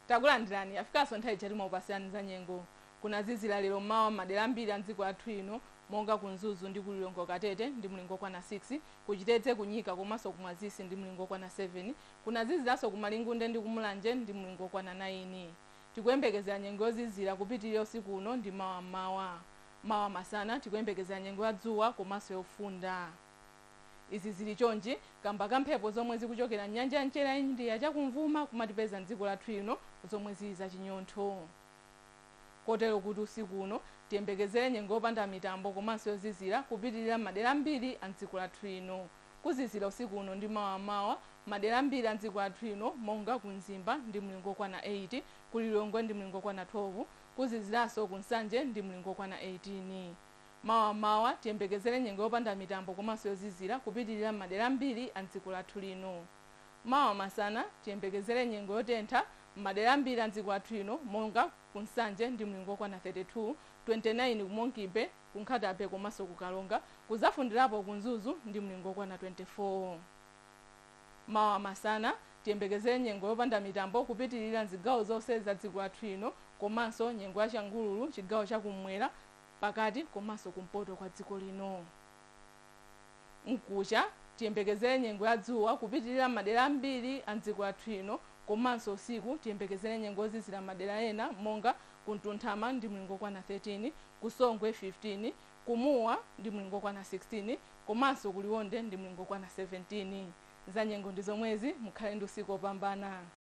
takulandirani yafikanso nthawi ija timakupatsirani za nyengo kunazizira lero mmawa m'madera ambiri a mdziko lathu ino monga ku mzuzu ndi ku lilongwe kukatete ndi mlingo okwana 6 kuchitedze kunyika komanso kumwazisi ndi mlingo okwana 7 kunaziziranso ku malingunde ndi kumulanje ndi mlingo okwana 9 tikuyembekezera nyengo yozizira kupitirira usiku uno ndi mawa mmawa Mawa masana tikuyembekezera nyengo ya dzuwa komanso yofunda. Izi zili chonchi kamba ka mphepo zomwe zikuchokera m'nyanja ya mchere ya India chakumvuma kumatipeza m'dziko lathu lino zomwe zili za chinyontho. Kotero kuti usiku uno tiyembekezere nyengo yopanda mitambo komanso yozizira kupitilira m'madera ambiri a m'dziko lathu lino. Kuzizira usiku uno ndi mawa m'mawa m'madera ambiri a m'dziko lathu lino monga ku Mzimba ndi mlingo okwana 8, ku Lilongwe ndi mlingo okwana 12, Kuziziranso ku Nsanje ndi mlingo wokwana 18. Mawa m'mawa tiyembekezere nyengo yopanda mitambo komanso yozizira kupitirira m'madera ambiri a m'dziko lathu lino. Mawa masana tiyembekezere nyengo yotentha m'madera ambiri a m'dziko lathu lino monga ku Nsanje ndi mlingo wokwana 32, 29 ku Monkey Bay, ku Nkhata Bay komanso ku Karonga, kuzafundirapo ku Mzuzu ndi mlingo wokwana 24. Mawa masana, tiyembekezere nyengo yopanda mitambo kupitilira mzigawo zonse za dziko lathu lino komanso nyengo ya changululu chigawo cha kum'mwera, pakati komanso kumpoto kwa dziko lino. Mkucha, tiyembekezere nyengo ya dzuwa kupitilira m'madera ambiri a mdziko lathu lino komanso usiku tiyembekezere nyengo yozizira m'madera ena monga ku Mtunthama ndi mlingo okwana 13, ku Songwe 15, Ku Mua ndi mlingo wokwana 16 komanso ku Liwonde ndi mlingo wokwana 17. Zanyengo ndi zomwezi, mukhale ndi usiku wopambana.